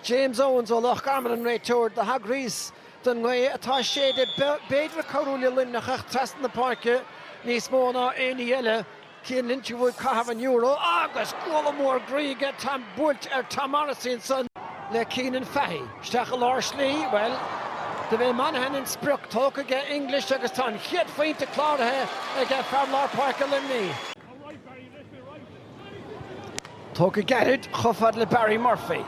James Owens ó Loch Garman an réiteoir do thagraís don ngaoth atá ag séideadh. B'fhéidir ag cabhrú le Luimneach ach trasna na páirce níos mó ná aon ní eile, Cian Lynch a bhuaigh caitheamh an euro agus guala mhór ghroí aige, buailte ar Tom Morrissey ansan le Cianan Fahy. Isteach i lár slí, bhuel, dob é Monaghan an sprioc tógtha aige English agus tá an chéad phointe cláraithe aige fear lár páirce Luimnigh. Tógtha gairid chomh fada le Barry Murphy.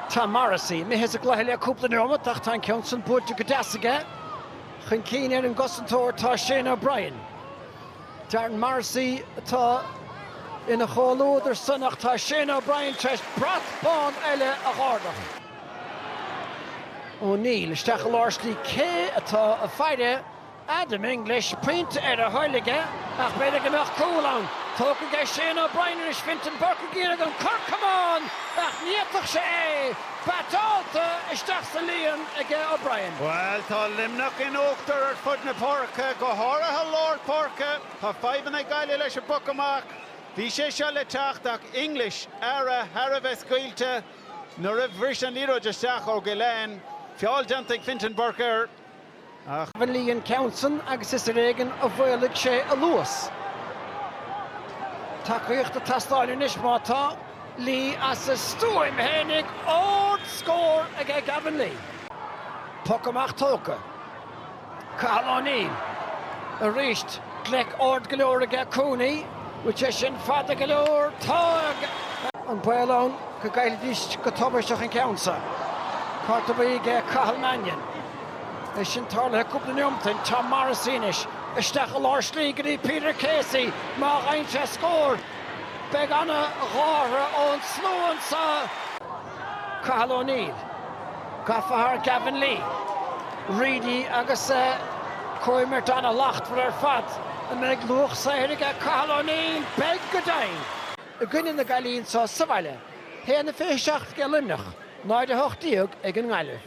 Tom Morrissey, imithe as an gcluiche le cúpla neomat ach tá an ceann san buailte go deas aige. Chun cinn ar an gcosantóir tá Shane O'Brien. Darren Morrissey atá ina chomhluadar san ach tá Shane O'Brien tar éis brat bán eile a dh'ardach. O'Neill, isteach i lár slí cé atá ag faire? Adam English, pointe ar a thoil aige ach b'fhéidir go mbeadh cúl ann. Tógtha aige Shane O'Brien anois, Fintan Burke ag iarraidh an cor camáin, ach ní fhéadfadh sé é. Batálta isteach sa líon aige O'Brien. Bhuel, tá Luimneach in uachtar ar fud na páirce, go háirithe lár páirce. Tá fadhbanna ag Gaillimh leis an bpoc amach. Bhí sé seo le teacht ach English, ara thar a bheith scaoilte, nuair a bhris an liathróid isteach ó Gillane. Feall déanta ag Fintan Burke air. Ach Gavin Lee an ceann san agus is ar éigin a mhaolaigh sé a luas. Tacaíocht ag teastáil anois má tá Lee as a stuaim fhéinig! Ardscór aige Gavin Lee. Poc amach tógtha. Cathal O'Neill. Arís gleic ard go leor aige Cooney. Bhfuil sé sin fada go leor? Tá! Ach an baol ann go gcaillfidís go tubaisteach an ceann so. Cárta buí aige Cathal Mannion. É sin tarlaithe cúpla neomat ó shin. Tom Morrissey anois. Isteach i lár slí go dtí Peter Casey. Má gheibheann sé scór, beidh ana-ghártha ón slua anseo. Cathal O'Neill. Gafa thar Gavin Lee. Reidy agus an chomhimirt ana-shlachtmhar ar fad. An mbeidh luach saothair aige Cathal O'Neill? Beidh, go deimhin! i gcoinne na Gaillimhe anseo sa bhaile. 1-27 ag Luimneach, 0-18 ag an nGaillimh.